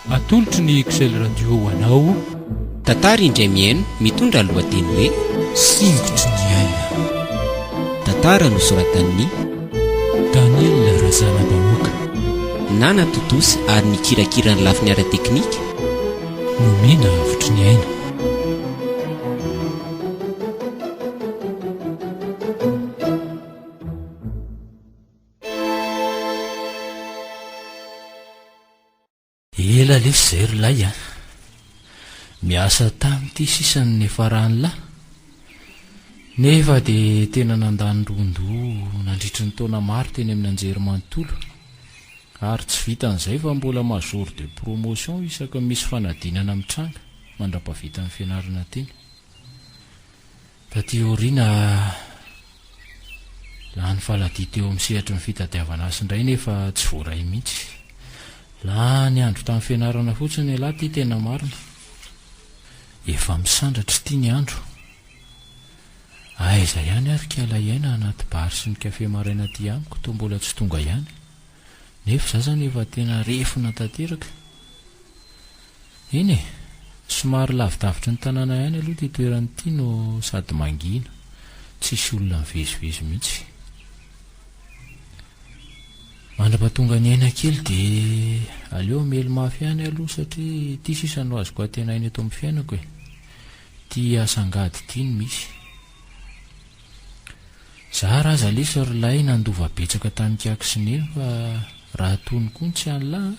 Atolotry ny Excel Radio ho anao. Tantara indray mihaino mitondra ny lohateny hoe Singitry ny aina. Tantara nosoratan'i Daniel Razanabahoaka. Nana Totosa ary ny kirakira ny lafiny ara-teknika. Nomena avotry ny aina. Ela lesy zay ry lay a! Miasa tany ity sisa ny niafarany la! Nefa dia tena nandany ron-doha nandritry ny taona maro teny amin'ny anjery manontolo, ary tsy vitan'izay fa mbola major de promotion isaky ny misy fanadinana mitranga mandra-pahavitan'ny fianarana teny. Taty aoriana, lany faladia teo amin'ny sehatry ny fitadiavana azy indray nefa tsy voaray mihitsy. Lany andro tamin'ny fianarana fotsiny elah ty tena marina. Efa misandratra ity ny andro. Aiza ihany ary k'ala iaina anaty bar sy ny café maraina ty amiko toa mbola tsy tonga ihany. Nefa za zany efa tena refona tanteraka. Eny e! Somary lavidavitry ny tanàna ihany aloha ity toerana ity no sady mangina, tsisy olona mivezivezy mihitsy. Mandrapatonga ny aina kely dia aleo hamely mafy ihany aloha satria ity sisa no azoko antenaina eto amin'ny fiainako e! Ity asa angady ity no misy. Zara aza lesy ry lahy nandova betsaka tamin'i Kiaky sy Neny fa raha tony koa ny tsy an'lah a!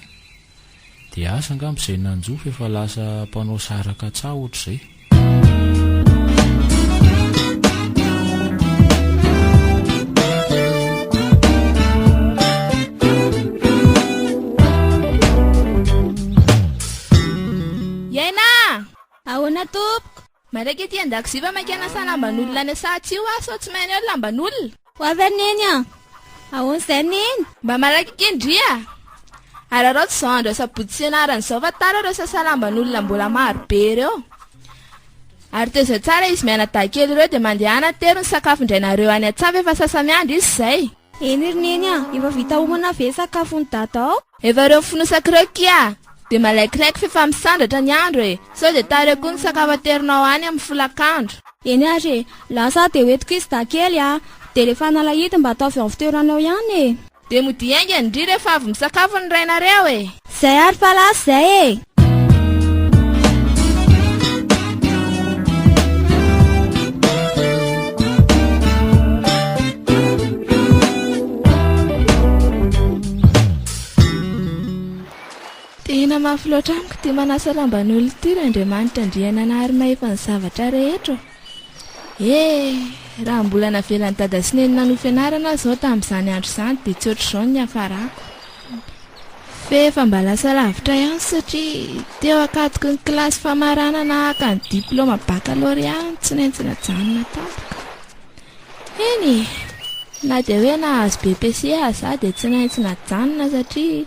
Dia asa angamba izay nanjo fa efa lasa mpanao saraka tsaho ohatr'izay. Iaina a! Ahoana tompoko? Maraika ety an-dakozia fa maika hanasa lamban'olona any Sahatsy io aho sao tsy mahay an'io ny lamban'olona. Ho avy ary Neny an! Ahoana izay ry Neny? Mba maraika kely ndry a! Araraoty izao andro asabotsy sy ianarana izao fa tara ireo sasa lamban'olona mbola maro be ireo. Ary tezitra tsara izy mianadahy kely ireo dia mandehana an-tery ny sakafo indray nareo any an-tsaha fa efa sasa-miandry izy izay. Eny ry neny a! Efa vita homana ve sakafon'i dada ao? Efa reo fonosa croquis a! Dia malaikilaiky f'efa misandratra ny andro e! Sao dia tara koa ny sakafo aterinao any amin'ny folakandro. Eny ary e! Lasa aho dia hoentiko izy dakely a! Dia rehefa nalahidiny mba ataovy ao amin'ny fitoerany ao ihany e! Dia modia haingana ndry rehefa avy misakafo ny rainareo e! Zay ary palace zay e! Tena mafy loatra amiko ity manasa lamban'olona ity Randriamanitra Andriananahary Mahefa ny zavatra rehetra ô. He! Raha mbola navelan'i Dada sy Neny nanohy fianarana aho izao tamin'izany andro izany dia tsy ohatr'izao ny niafarako. F'efa mba lasa lavitra ihany satria teo ankatoky ny kilasy famaranana haka ny diplaoma bakalorea no tsy maintsy najanona tampoka. Eny e! Na dia hoe nahazo BPC aza dia tsy naitsy najanona satria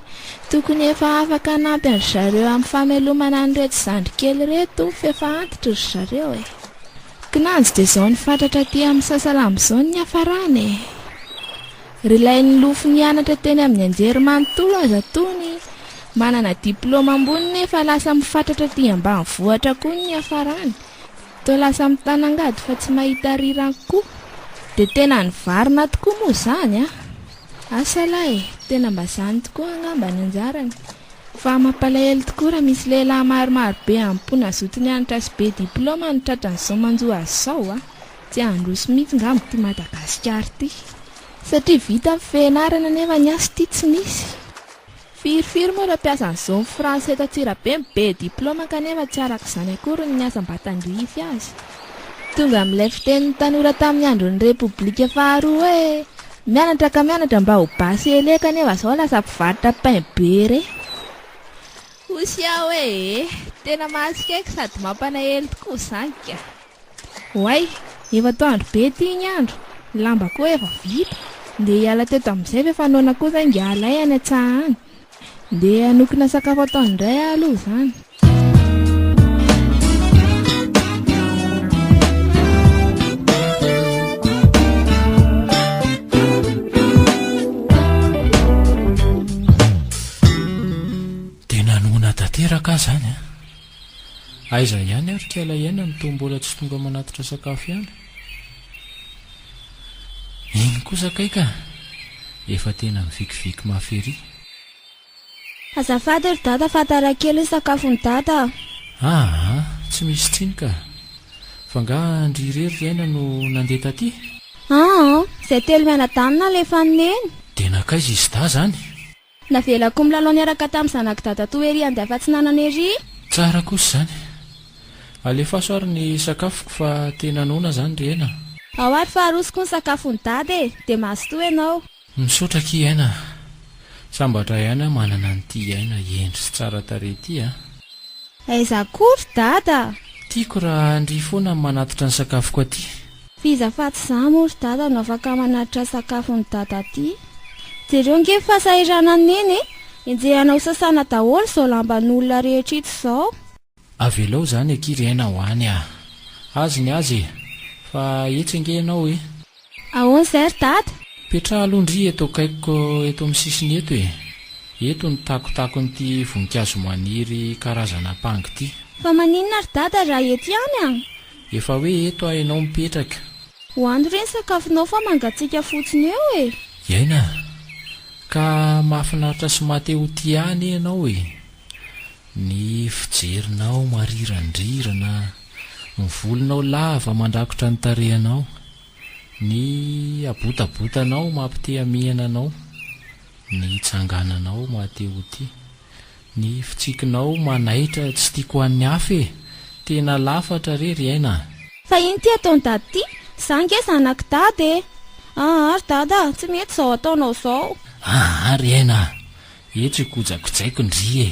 tokony efa afaka hanampy an-dry zareo amin'ny famelomana an'ireto zandry kely ireto f'efa antitra ry zareo e! Kinanjo dia izao ny fatratra aty amin'ny Sasalamba izao ny niafarany e! Ry lay nilofo nianatra teny amin'ny Anjerimanontolo aza tony manana diplaoma ambony nefa lasa mifatratra aty ambanivohitra koa ny niafarany! Toa lasa mitana angady fa tsy mahita rirany koa. Dia tena nivarina tokoa moa izany a! Asa lahy e! Tena mba izany tokoa angamba ny anjarany. Fa mampalahelo tokoa raha misy lehilahy maromaro be amim-po nazoto nianatra sy be diplaoma no tratran'izao manjo azy izao a! Tsy handroso mihitsy ngamba ity Madagasikara ity. Satria vita ny fianarana nefa ny asa ity tsy misy. Firy firy moa ireo mpiasan'ny Zone Franche eto Antsirabe no be diplaoma kanefa tsy araka izany akory ny asa mba tandrify azy. Tonga amin'ilay fitenin'ny tanora tamin'ny andron'ny Repoblika faharoa hoe, mianatra ka mianatra mba ho basy elé kanefa izao lasa mpivarotra pain beurre. Hoy Siaho hoe, Tena mahatsikaiky sady mampanaely tokoa izany ka! Oay! Efa to andro be ty igny andro, ny lamba koa efa vita, ndeha hiala teto amin'izay ve fa noana koa zay ngiahy lahy any an-tsaha any. Ndeha hanokona sakafo ataony indray aho aloha izany. Tena noana tanteraka aho izany an! Aiza ihany ary k'aila iaina no toa mbola tsy tonga manatitra sakafo ihany? Iny kosa kay ka! Efa tena mivikiviky mafy ery. Azafady ry dada fa tara kely ny sakafon'i dada a! Aa! Tsy misy tsiny ka! Fa nga an-dry irery ry aina no nandeha taty? Aa! Izay telo mianadahy no nalefan'i neny. Dia nankaiza i Zda zany? Navelako milalao niaraka tamin'ny zanak'i dadatoa ery handeha afatsinanana ery. Tsara kosa izany. Alefaso ary ny sakafoko fa tena noana izany ry Aina a. Ao ary fa arosoko ny sakafon'i dada e. Dia mazotoa ianao. Misaotra akia Aina a. Sambatra ihany aho manana an'ity Aina hendry sy tsara tarehy ity a. Aiza koa ry dada a. Tiako raha ndry foana ny manatitra ny sakafoko aty. F'iza afatsy za moa ry dada no afaka manatitra sakafon'i dada aty? Jereo ange ny fahasahiranan'i neny e! Enjehana ho sasana daholo izao lamban'olona rehetra ito izao. Avelao izany akia ry aina ho any a! Azy ny azy e! Fa etsy ange ianao e! Ahoana izay ry dada? Petraha aloha ndry eto akaikiko eto amin'ny sisiny eto e! Eto ny takotakon'ity voninkazo maniry karazana ampango ity. Fa maninona ry dada raha eto ihany a? Efa hoe eto aho ianao mipetraka. Ho any re ny sakafonao fa mangatsiaka fotsiny eo e! Iaina a! Ka mahafinaritra sy maha te ho tia ahy anie ianao e! Ny fijerinao marirandrirana, ny volonao lava mandrakotra ny tarehinao, ny habotabotanao maha-te-hamihana anao, ny tsangananao maha-te ho tia. Ny fitsikinao manaitra tsy tiako an'ny hafa e! Tena lafatra re ry aina a! Fa ino ty ataony dada ty? Za nge zanak'i dada e! Aa ry dada a! Tsy mety zao ataonao zao! Aa ry aina a! Eto ikojakojaiko ndry e!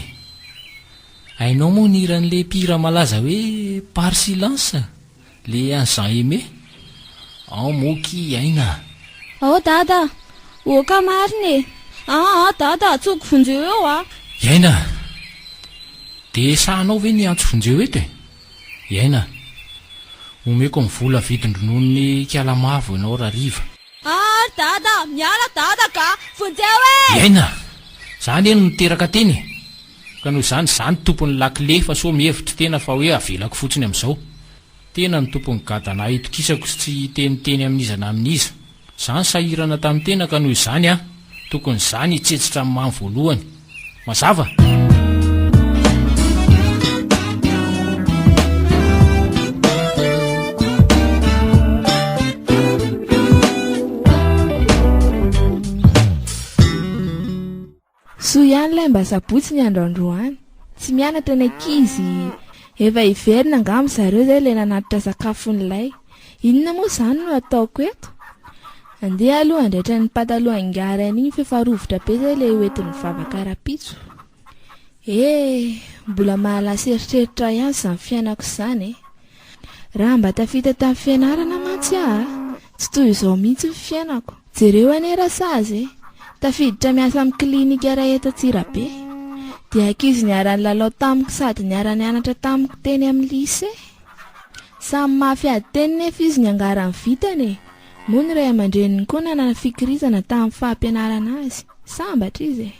Hainao moa ny hiran'le mpihira malaza hoe Par Silence? Le an'i Jean Aimé? Ao moa ki i Aina a! Ao dada a! Oka marina e! Aa a dada a! Tsoiko vonjeo eo a! I Aina a! De sahanao ve ny hiantso vonjeo eto e? I Aina a! Omeko ny vola vidin-drononon'i Kialamavo ianao rariva. Aa ry dada a! Miala dada ka! Vonjeo e! I Aina a! Za anie no niteraka teny e! Ka noho izany, izaho no tompon'ny lakile fa sao mihevitra tena fa hoe avelako fotsiny amin'izao. Tena no tompon'ny gadana hitokisako sy tsy hiteniteny amin'iza na amin'iza. Izaho nisahirana tamin'ny tena ka noho izany aho tokony izaho no hitsetsitra ny mamy voalohany. Mazava? Soa ihany lay mba sabotsy ny andro androany, tsy mianatra ny ankizy, efa hiverina angamba zareo izay ilay nanatitra sakafon'ilay. Inona moa izany no ataoko eto? Andeha aloha handraitra ny pataloha ingahy Rainigny f'efa rovitra be izay ilay hoentin'ny vavaka rapitso. Eh, mbola mahalasa eritreritra ahy ihany izany fiainako izany e! Raha mba tafita tamin'ny fianarana mantsy aho a! Tsy toy izao mihitsy ny fiainako. Jereo anie Rasazy e! Tafiditra miasa amin'ny clinique iray eto Antsirabe. Dia ankizy niara-nilalao tamiko sady niara-nianatra tamiko teny amin'ny lycée. Samy mafy ady teny nefa izy niangaran'ny vitany e! Moa ny ray aman-dreniny koa nanana fikirizana tamin'ny fampianarana azy. Sambatra izy e!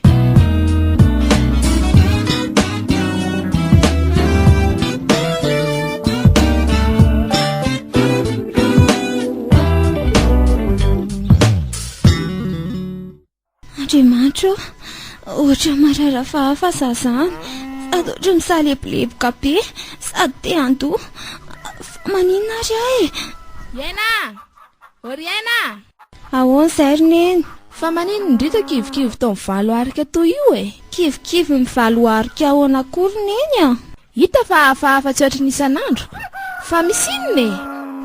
Andriamanitra ô! Ohatra marara fahafa za zany, sady ohatra misaleboleboka be, sady te handoa. Fa maninona ary aho e? Iaina! Oriaina! Ahoan zay ry neny? Fa manin ny drika kivikivy tao am valo arika toy io e? Kivikivy ny valo arika ahoana koa ry neny a? Hita fa hafahafa tsy ohatry ny isan'andro. Fa misy inona e?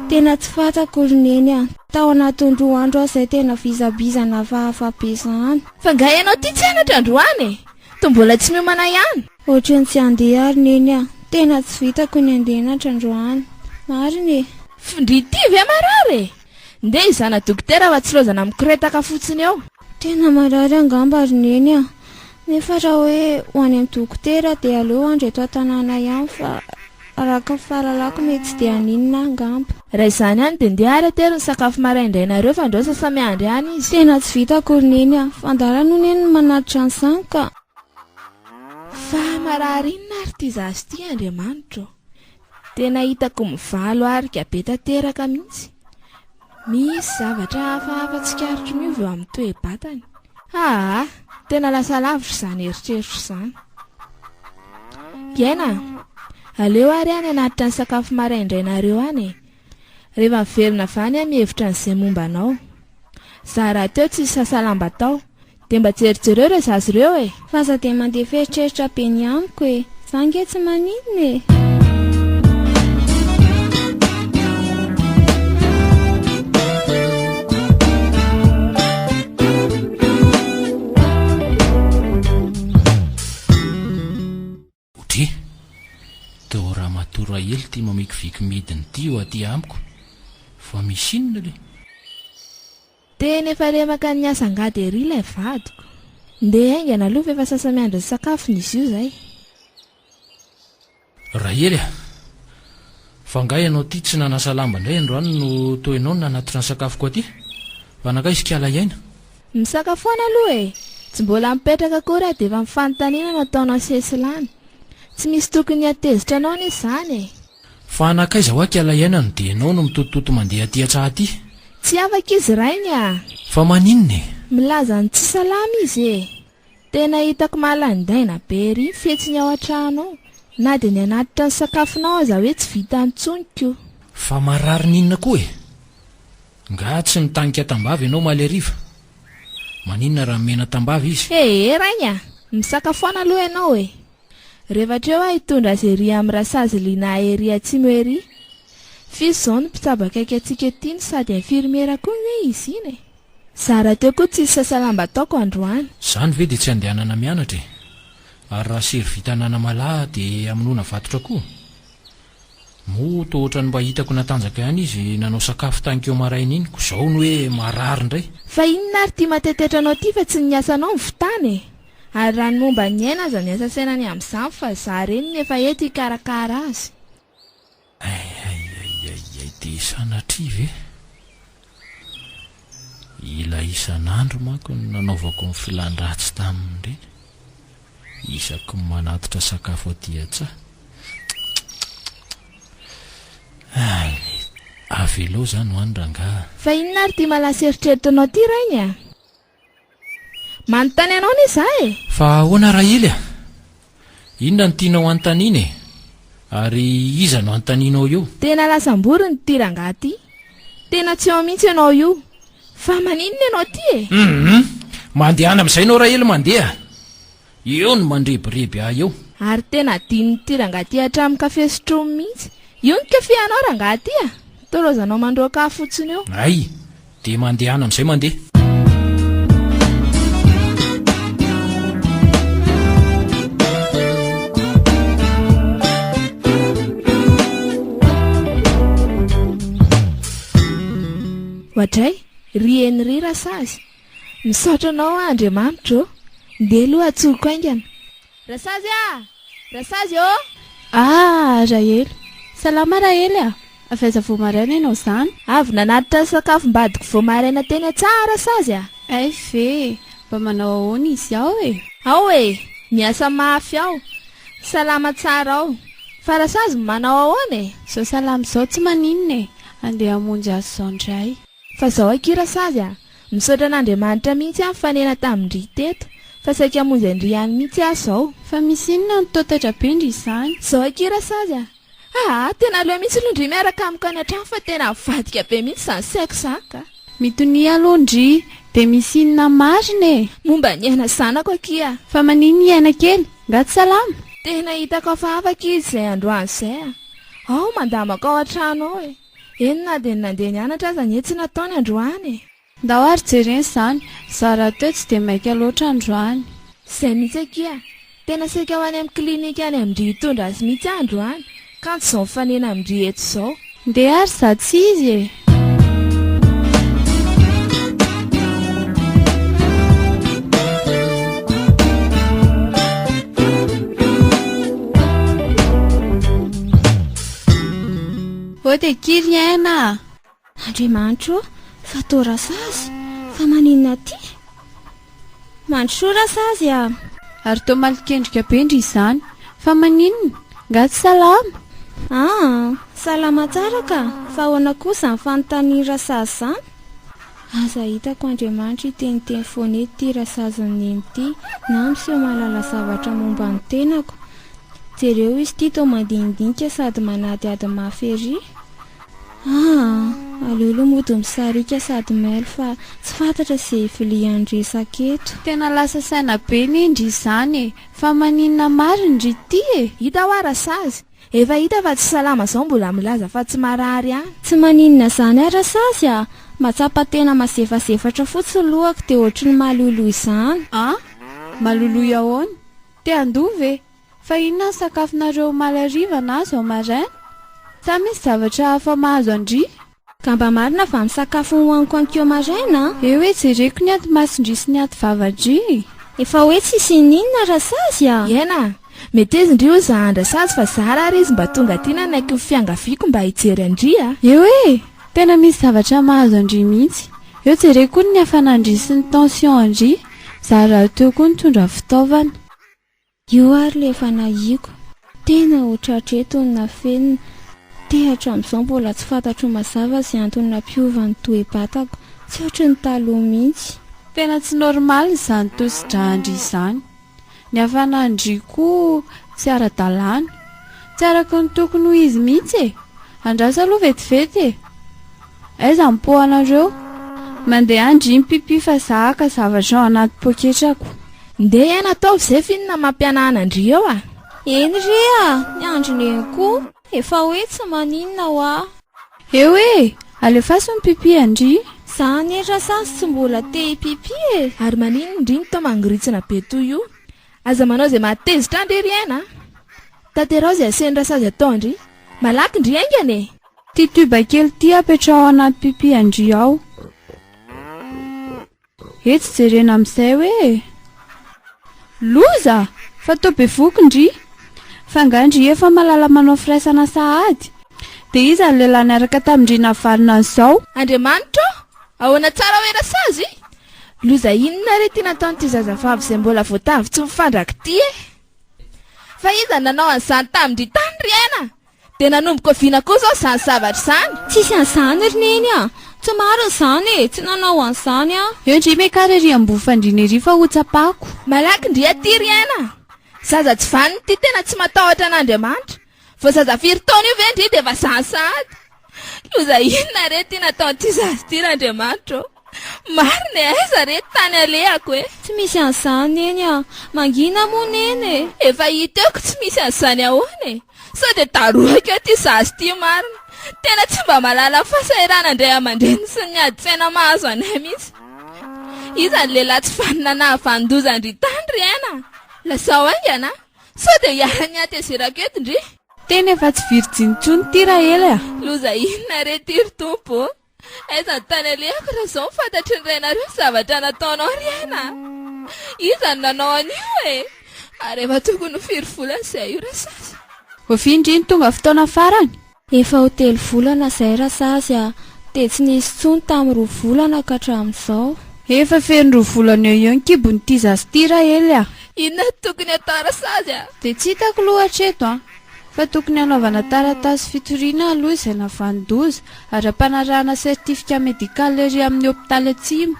Tena tsy fantako ry neny a! Tao anatin'ny roa andro aho zay tena vizabiza nafahafa be zany. Fa nga ianao ty tsy anatra androany e? To mbola tsy miomana ihany? Ohatry ny tsy handeha ry neny a! Tena tsy vitako ny handeha anatra androany. Marina e! F'ndry ity ve marary e? Ndeha hizana dokotera fa tsy lozana mikoretaka fotsiny eo. Tena marary angamba ry neny a! Nefa raha hoe ho any amin'ny dokotera dia aleo hoandry eto an-tanàna ihany fa araka ny fahalalako mety tsy dia haninona angamba. Raha izany any dia ndeha ary atero ny sakafo maraindrainareo fa ndrao sasa miandry any izy. Tena tsy vitako ry neny a! Fa ndala no neny no manatitra an'izany ka! Fa marary inona ary ity zaza ity Andriamanitra ô! Tena hitako mivalo arika be tanteraka mihitsy. Misy zavatra hafahafa tsikaritro miova eo amin'ny toe-batany. Haa! Tena lasa lavitra izany eritreritro izany. Hiaina an! Aleo ary any hanatitra ny sakafo maraindrainareo any e! Rehefa miverina avy any aho mihevitra an'izay momba anao. Za rahateo tsy nisasa lamba tao. Dia mba jerijereo ireo zaza ireo e! F'aza dia mandeha f'eritreritra be ny amiko e! Za ange tsy maninona e! Odry! Teo ramatoa Rahely ty mamikiviky midiny ty eo aty amiko fa misy inona le? Tena efa lemaka ny asa angady ery ilay vadiko. Ndeha haingana aloha fa efa sasa-miandry ny sakafony izy io izay. Rahely a! Fa angaha ianao ty tsy nanasa lamba indray androany no toa ianao no nanatitra ny sakafoko aty? Fa nankaiza i Kalahiaina? Misaka foana aloha e! Tsy mbola mipetraka akory aho dia efa mifanontaniana no ataonao sesilany. Tsy misy tokony hatezitra anao anie izany e! Fa nankaiza hoa kiala iaina no dia ianao no mitotototo mandeha aty hatraha aty? Tsy afaka izy rainy a! Fa maninona e? Milaza ny tsy salama izy e! Tena hitako mahalaindaina be ery ny fihetsiny ao an-trano ao, na dia ny hanatitra ny sakafonao aza hoe tsy vitany intsony ko! Fa marary n'inona koa e? Nga tsy nitanika tambavy ianao omaly hariva? Maninona raha nomena tambavy izy? Ee Ray a! Misakafoana aloha ianao e! Rehefa hatreo aho hitondra azy ery amin'ny rasazy Lina ery atsimo ery. F'izy izao no mpitsabo akaiky antsika ety no sady infirmiera koa nge izy iny e! Za rahateo koa tsisy sasa lamba ataoko androany. Izany ve dia tsy andehanana mianatra e! Ary raha sery vita an'anamalaho dia hamonoana vatotra koa? Moa toa ohatran'ny mba hitako natanjaka ihany izy nanao sakafo tankeo maraina iny ko zao ny hoe marary ndray. Fa inona ary ty matetetra anao ty fa tsy ny asanao no fitana e! Ary raha ny momba ny aina aza miasa saina ny amin'izany fa za reny ny efa eto hikarakara azy. Ay ay ay ay ay dia sanatria ve? Ilay isan'andro manko no nanaovako ny filan-dratsy taminy ireny. Isaky ny manatitra sakafo aty an-tsaha. Avelao izany ho any rangahy a! Fa inona ary ity malaso eritreretinao ity rainy a! Manontany anao anie za e! Fa ahoana Rahily a? Inona no tianao hanontaniana e? Ary iza no hanontanianao io? Tena lasam-borona ity rangahy ity. Tena tsy eo mihitsy ianao io. Fa maninona ianao aty e? Hum! Mandehana amin'izay ianao Rahily mandeha. Eo no mandrebireby ahy eo. Ary tena adinon'ity rangahy ity hatramin'ny kafe sotroiny mihitsy. Io ny kafehanao rangahy ity a! Tolaozanao mandroaka ahy fotsiny eo. Hay! Dia mandehana amin'izay mandeha. Oadray, ry Henri Rasazy. Misaotra anao aho Andriamanitra ô! Ndeha aloha atsoriko haingana. Rasazy a! Rasazy ô! Ah! Rahely! Salama Rahely a! Avy aiza vao maraina ianao izany? Avy nanatitra ny sakafom-badiko vao maraina teny an-tsaha Rasazy a! Hay ve! Mba manao ahoana izy ao e? Ao e! Miasa mafy ao! Salama tsara ao! Fa Rasazy manao ahoana e? Izao salama izao tsy maninona e! Andeha hamonjy azy izao indray. Fa zao akia Rasazy a! Misaotra an'Andriamanitra mihitsy aho nifanena tamin-dry teto fa saika hamonjy an-dry any mihitsy aho zao. Fa misy inona no taotatra be ndry izany? Zao akia Rasazy a! Aa! Tena aleo mihitsy aloha ndry miaraka amiko any an-trano fa tena avadika be mihitsy izany saiko izany ka! Mitonia aloha ndry! Dia misy inona marina e? Momba ny aina zanako akia a! Fa manin i aina kely? Nga tsy salama? Tena hitako hafahafa akia izay androany izay a! Ao mandamako ao an-trano ao e! Eny na dia ny nandeha nianatra aza anie tsy nataony androany e! Ndao ary jerena izany, za rahateo tsy dia maika loatra androany. Izay mihitsy akia! Tena saika ho any amin'ny clinique any amin-dry hitondra azy mihitsy aho androany, kanto izao mifanena amin-dry eto izao. Ndeha ary za tsy izy e! Ô dia kily aina a! Andriamanitra ô, fa toa Rasazy, fa maninona aty? Mandrosoa Rasazy a! Ary toa malokendrika be ndry izany! Fa maninona? Nga tsy salama? Aa! Salama tsara ka! Fa ahoana kosa izany fanontanian'i Rasazy izany? Aza hitako Andriamanitra hiteniteny foana eto ity rasazon'i Neny ity na miseho mahalala zavatra momba ny tenako. Jereo izy ity toa mandinidinika sady manadihady mafy ery. Aa! aleo aloha mody misarika sady mailo fa tsy fantatra izay hivilihan'ny resaka eto. Tena lasa saina be ne ndry izany e! Fa maninona marigny ry ty e! Hita hoa rasazy! Efa hita fa tsy salama zao mbola milaza fa tsy marary ihany. Tsy maninona zany ary Rasazy a! Matsapa tena mazefazefatra fotsiny lohako dia ohatry ny maloiloy zany. An? Maloiloy ahoana? Te handoa ve? Fa inona ny sakafonareo omaly hariva na zao maraina? Sa misy zavatra hafa mahazo an-dry? Ka mba marina fa ny sakafo hohaniko ankeo maraina an! Eo hoe jereko ny aty mason-dry sy ny aty vava-dry. Efa hoe tsy hisian'ny inona Rasazy a! Iena! Meteza indry hoza an-dRasazy fa za raha ary izy mba tonga aty nanaiky ny fiangaviako mba hijery an-dry a! Eo hoe! Tena misy zavatra mahazo an-dry mihitsy. Eo jereko koa ny hafanan-dry sy ny tension an-dry. Za rahateo koa nitondra fitaovana. Io ary le efa nahiako. Tena ho tratra eto ny nafenina. Te hatramizao mbola tsy fantatro mazava ze antony nampiova ny toe-batako. Tsy ohatry ny taloha mintsy. Tena tsy normal izany tosi-dra an-dry izany. Ny hafanàn-dry koa tsy ara-dalàna. Tsy araky ny tokony ho izy mihitsy e! Andraso aloha vetivety e! Aiza ny po anareo? Mandeha an-dry mpipi fa za haka zavatra ao anaty poketrako. Ndeha iany ataovy zay finina mampianahana an-dry eo a! Eny re a! Ny androny eny koa efa hoe tsy maninona hoa! Eo e! Alefaso ny mpipi an-dry! Za anie ra sazy tsy mbola te hipipi e! Ary maninona ndry no toa mangoritsina be toy io? Aza manao izay mahatezitra an-dry ry aina a! Tanteraho izay asehin-dRasazy atao an-dry! Malaky ndry haingana e! Ty tube kely ty apetraho anaty pipi an-dry ao. Etsy jerena amin'izay hoe Loza! Fa toa bevoky ndry! Fa nga ndry efa malala manao firaisana sahady? Dia iza ny lehilahy niaraka tamin-dry navalona an'izao? Andriamanitra ô! Ahoana tsara hoe rasazy? Loza inona re ty nataon'ity zazavavy izay mbola voatavo tsy mifandrak ity e! Fa iza no nanao an'izany tamin-dry tany ry aina? Dia nanomboka oviana kosa aho izany zavatra izany? Tsisy an'izany ry Neny a! Tsy marina izany e! Tsy nanao an'izany aho. Eo ndry Mekara ery Ambovandriana ery fa ho tsapako. Malaky ndry aty ry aina a! Zaza tsy vanona ity tena tsy matahotra an'Andriamanitra. Vao zaza firy taona io ve ndry dia efa izany sahady? Loza inona re ity nataon'ity zaza ity r'Andriamanitra ô! Marina e, aiza re tany alehako e. Tsy misy an'izany Neny a! Mangina moa Neny e! Efa hita eo ko tsy misy an'izany ahoana e! Sao dia darohako eo ity zaza ity marina. Tena tsy mba mahalala ny fahasahiranan'ny ray aman-dreniny sy ny adin-tsaina mahazo anay mihitsy. Iza ny lehilahy tsy vanona nahavanon-doza an-dry tany ry aina a! Lazao haingana a! Sao dia hiaran'ny hatezerako eto ndry. Tena efa tsy virjiny intsony ity Rahely a! Loza inona re ity ry Tompo ô! Aiza ny tany alehako raha izao no fantatry ny rainareo ny zavatra nataonao ry aina a! Iza no nanao an'io e! Ary efa tokony ho firy volana izay io Rasazy? Ovia ndry ny tonga fotoana farany? Efa ho telo volana izay Rasazy a! Dia tsy nisy intsony tamin'ny roa volana ka hatramin'izao. Efa feno roa volana eo eo ny kibon'ity zaza ity Rahely a! Inona no tokony hatao Rasazy a! Dia tsy hitako loatra eto a! Fa tokony hanaovana taratasy fitoriana aloha izay navanon-doza, ara-panarahana certificat médical ery amin'ny hopitaly atsimo.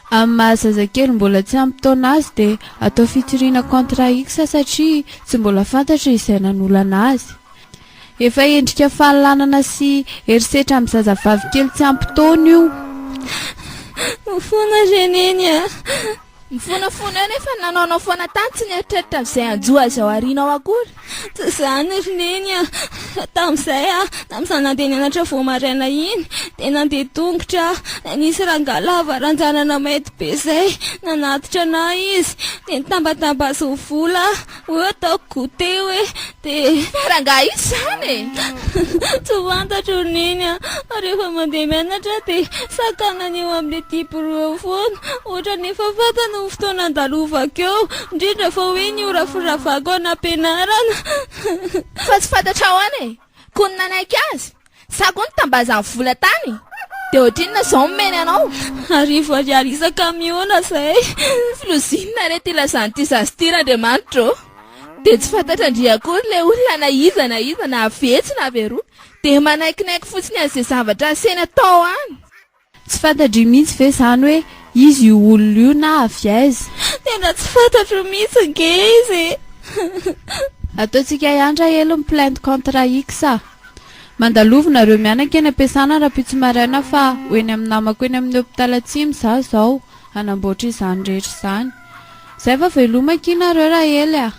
Amin'ny maha zazakely mbola tsy ampy taona azy dia atao fitoriana contrat X satria tsy mbola fantatra izay nanolana azy. Efa endrika fahalanana sy herisetra amin'ny zazavavy kely tsy ampy taona io. Mifona re Neny a! Mifonafona eo nefa nanaonao foana tany tsy nieritreritra an'izay hanjo azy ao aoriana ao akory. Tsy izany ry Neny a! Fa tamin'izay aho tamin'izaho nandeha nianatra vao maraina iny dia nandeha tongotra aho dia nisy rangahy lava ranjanana mainty be izay nanatitra anah izy dia nitambatamba azy ho vola aho. Hoy aho taoko teo hoe, dia rangahy izy izany e! Tsy fantatro ny nini aho, rehefa mandeha mianatra aho dia sakana ny eo amin'ilay diaporô eo foana, ohatran'ny efa fantany ny fotoana andalovako eo, indrindra fa hoe ny ora firavako any am-pianarana. Fa tsy fantatrao an e! Koa ny nanaiky azy? Sa koa nitambazan'ny vola tany? Dia ohatrinona izao ny omeny anao? Arivo ariary isan-kamiona izay. Filozinina re ity ilazan'ity zaza ity Randriamanitra ô! Dia tsy fantatra ndry akory ilay olona na iza na iza na avy etsy na avy eroa dia manaikinaiky fotsiny an'izay zavatra asehony atao any. Tsy fantatry mihitsy ve zany hoe izy io olona io na avy aiza? Tena tsy fantatro mihitsy ange izy e! Ataontsika ihany rahelo ny plainte contre X a! Mandalovo nareo mianaka eny am-piasana rahampitso maraina fa ho eny amin'ny namako eny amin'ny hôpital Atsimo za zao hanamboatra izany rehetra izany. Zay fa veloma akia nareo rahely a!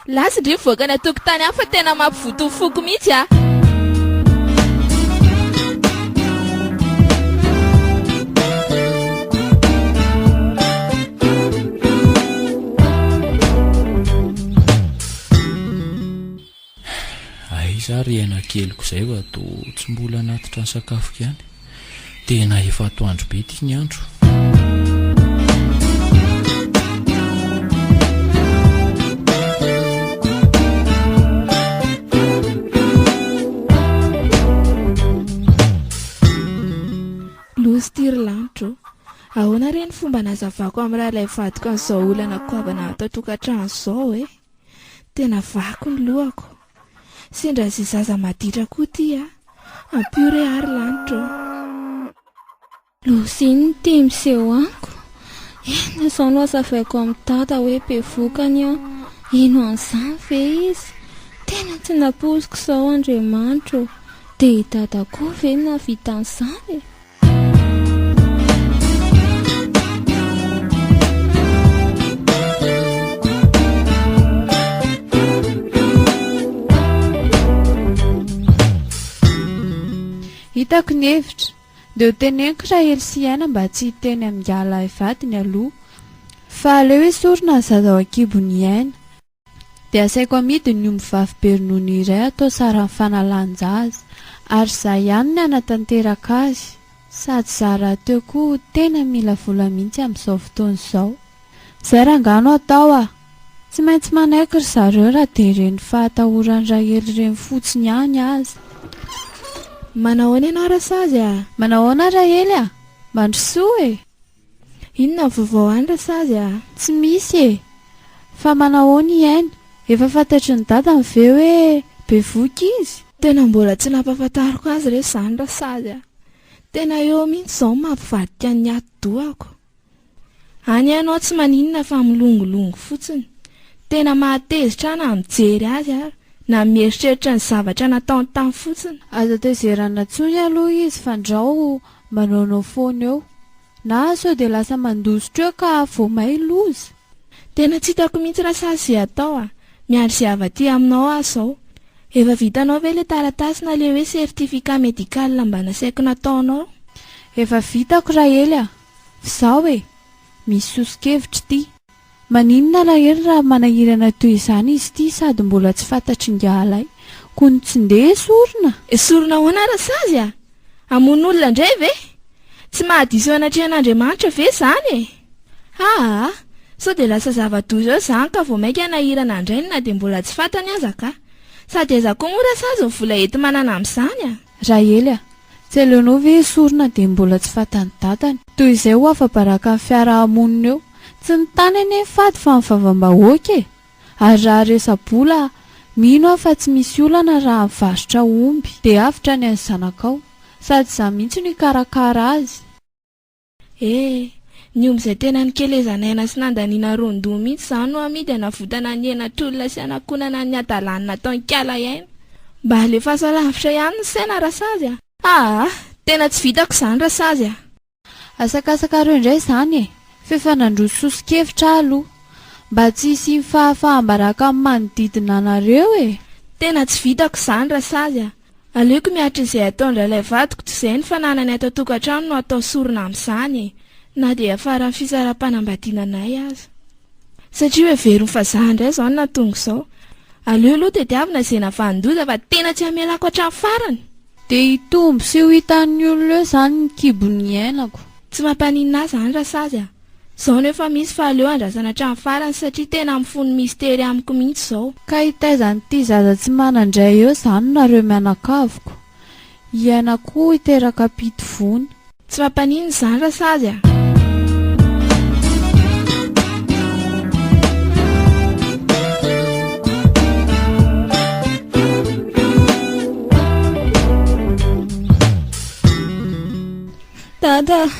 Last ndry mivoaka any an-tokotany any fa tena mampivoto ny foko mihitsy a! Aiza ary aina keliko izay vao toa tsy mbola hanatitra ny sakafoko ihany? Tena efa atoandro be ity ny andro. Loza ity ry lanitra ô. Ahoana re ny fomba anazavako amin'ny rahalay vadiko an'izao olana goavana ato an-tokantrano izao e? Tena vaky ny lohako. Sendra ze zaza maditra koa tia Ampio re ary lanitra ô. Lozin ny te miseho amiko Eny zao no azavaiko am dada hoe be vokany an Ino an'izany ve izy Tena tsy nampoiziko zao Andriamanitra ô Dia i dada koa ve no nahavita an'izany e. Hitako ny hevitra. Dia ho teneniko raha hely sy hiaina mba tsy hiteny amin'ingahy lahy vadiny aloha. Fa aleo esorina ny zaza ao an-kibony hiaina. Dia asaiko amidy ny omby vavy be ronono iray atao saran'ny fanalan-jaza. Ary izaho ihany ny hanatanteraka azy. Sady za rahateo koa tena mila vola mihitsy amin'izao fotoana izao. Izay rangahy no atao a! Tsy maintsy manaiky ry zareo raha dia ireny fahatahoran'i Rahely ireny fotsiny ihany aza. Manahoana ianao Rasazy a! Manahoana Rahely a! Mandrosoa e! Inona vaovao any rasazy a? Tsy misy e! Fa manahoana i Ainy? Efa fantatry ny dadany ve hoe bevohoka izy? Tena mbola tsy nampahafantariko azy re izany rasazy a! Tena eo mihitsy izao ny mampivadika ny atidohako. Any ianao tsy maninona fa milongolongo fotsiny. Tena mahatezitra ahy na mijery azy ary na mieritreritra ny zavatra nataony tany fotsiny. Aza tezerana intsony aloha izy fandrao. Manaonao foana eo. Na sao dia lasa mandositra eo ka vao may loza? Tena tsy hitako mihitsy raha sahy ze atao a! Miandry ze hava aty aminao aho zao. Efa vitanao ve le taratasy na le hoe certificat médical mba nasaiko nataonao? Efa vitako Rahely a! F'zaho e! Misy soso-kevitra ity. Maninona lahery raha manahirana toy izany izy ity sady mbola tsy fantatr'ingahalay. Kony tsy ndeha esorina? Esorina ahoana ary sazy a! Hamono olona indray ve? Tsy mahadiso anatrehan'Andriamanitra ve izany e! Haa! Sao dia lasa zava-doza eo izany ka vao mainka hanahirana an-drainy na dia mbola tsy fantany aza kah! Sady aiza koa moa rasazy ny vola enti-manana amin'izany a! Rahely a! Tsy aleonao ve esorina dia mbola tsy fatan'ny dadany. Toy izay ho afa-baraka ny fiaraha-monina eo. Tsy ny tany anie ny fady fa ny vavambahoaka e! Ary raha resa-bola a! Mino aho fa tsy misy olana raha mivarotra omby. Dia avotra ny an'ny zanakao. Sady izaho mihitsy no hikarakara azy. Ee, ny omby izay tena nikelezan'aina sy nandaniana roan-doha mihitsy izao no amidy hanavotana ny hena tolona sy hanakonana ny hadalany nataon-kala hiaina. Mba alefaso alavitra ihany ny saina Rasazy a! Aa! Tena tsy vitako izany Rasazy a! Asakasakareo indray izany e! F'efa nandroso soso-kevitra aho aloha. Mba tsy hisian'ny fahafaham-baraka amin'ny manodidina anareo e! Tena tsy vitako izany Rasazy a! Aleoko miaritra izay ataon-dRalay vadiko tsy izay ny fananany ato an-tokantrano no atao sorona amin'izany e! na dia hiafaran'ny fisaraham-panambadiana anay aza. Satria hoheveriny fa za indray izao no nahatonga izao. Aleo aloha tadiavina izay navanon-doza fa tena tsy hamelako hatramin'ny farany! Dia hitombo sy ho hitan'ny olona eo izany ny kibon'ny iainako. Tsy mampaninona ahy izany Rasazy a! Zao no efa misy fa aleo andrasana hatramin'ny farany satria tena mifono mistery amiko mihitsy zao. Ka hitaiza an'ity zaza tsy manan-dray eo zany nareo mianakaviko? Hiaina koa hiteraka ampitofony. Tsy mampaninona izany rasazy a! Dada ah,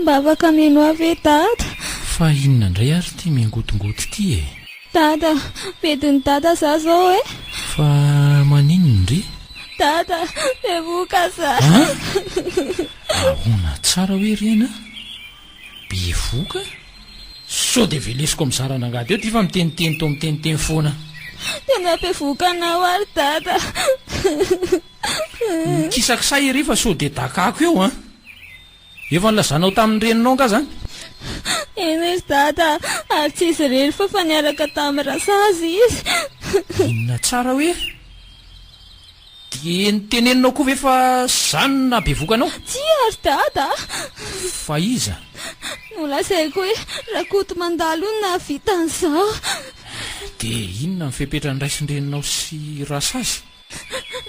mba afaka mihainoa ahy ve Dada? Fa inona indray ary ity miangotongoto ity e? Dada, bedin'i Dada za zao e! Fa maninona re? Dada, bevoka za! An? Ahoana tsara hoe reny an? Bevoka? Sao dia velesiko amin'ny zaran'angady eo ity fa miteniteny toa miteniteny foana. Tena bevoka anao ary Dada. Mikisakisay ery fa sao dia dakako eo an! Efa nilazanao tamin'ny reninao angaha izany? Eny izy dada, ary tsy izy irery fa efa niaraka tamin'i Rasazy izy. Inona tsara hoe? Dia noteneninao koa ve fa izany no nahabevoka anao? Tsia ry dada a! Fa iza? Nolazaiko hoe Rakotomandalo no nahavita an'izao. Dia inona ny fepetra niraisin-dreninao sy Rasazy?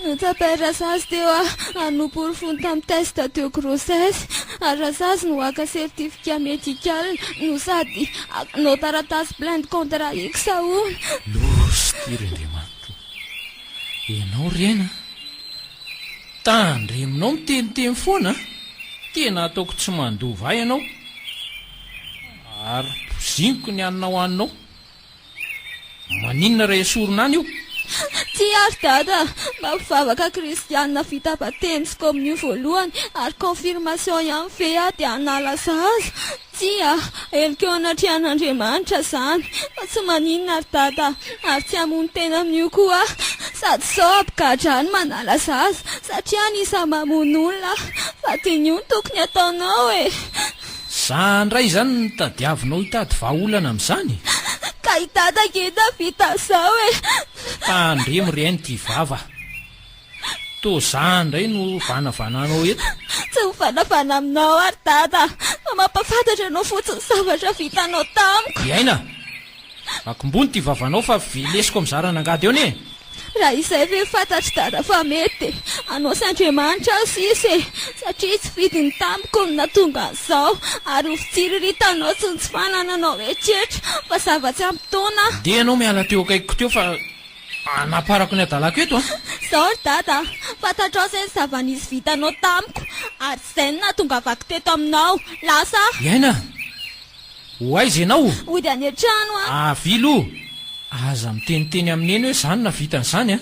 Notsapay Razazy teo a hanompo ry fony tamin'ny test de grossesse ary Razazy no haka certificat médical no sady hakanao taratasy plainte contre X hono. Loza ity ry Andriamanitro o! Ianao ry Aina a! Tandremonao miteniteny foana a! Tena ataoko tsy mandova ahy ianao ary poziniko ny haninao haninao. Maninona raha esorina any io? Tsia ry Dada, mba mpivavaka kristianina vita batemy sy komonio voalohany ary confirmation ihany ve aho dia hanala zaza? Tsia, heloka eo anatrehan'Andriamanitra izany fa tsy maninona ry Dada ary tsy hamono tena amin'io koa aho sady sao hampigadra ny manala zaza satria anisan'ny mamono olona aho fa dia ny io no tokony hataonao e! Za ndray zany no tadiavinao hitady vahaolana amin'izany? Ka i Dada ngeda vita zao e! Tandremo ry Aina ity vava. Toa za ndray no vanavananao eto. Tsy mivanavana aminao aho ry Dada fa mampafantatra anao fotsiny ny zavatra vitanao tamiko. I Aina! Akombony ity vavanao fa velesiko amin'izay ran'angady eo anie! Raha izay ve fantatr'i Dada fa mety dia hanao sy Andriamanitra aho sisa e! Satria tsy fidiny tamiko no nahatonga an'izao ary ho fitsiriritanao sy ny tsy fanananao eritreritra fa zava-tsy ampy taona aho. Ndeha ianao miala teo akaikiko teo fa hanaparako ny hadalako eto a! Izao ry Dada a! Fantatrao izay ny zava-nisy vitanao tamiko ary izay no nahatongavako teto aminao. Lasa aho! Hiaina a! Ho aiza ianao o? Hody any an-trano aho. Avily o! Aza miteniteny amin'i Neny hoe izany na vitany izany a!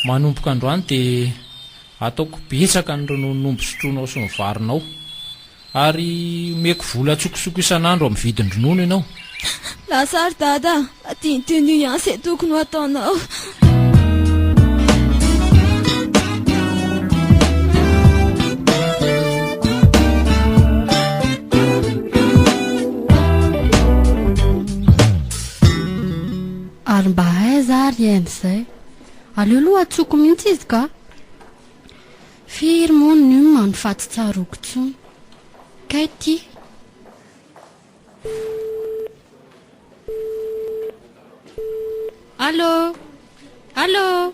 Manomboka androany dia ataoko betsaka ny rononon'omby sotroinao sy ny varinao. Ary omeko vola an-tsokosoko isan'andro amin'ny vidin-dronono ianao. Lasa ry Dada a! Aty ny tenue ihany zay tokony ho ataonao. ary mba aiza ary eny zay aleo loha atsoko mihitsy izy ka firy moa ny manofaty tsaroko tsony kay ty Allô? Allô?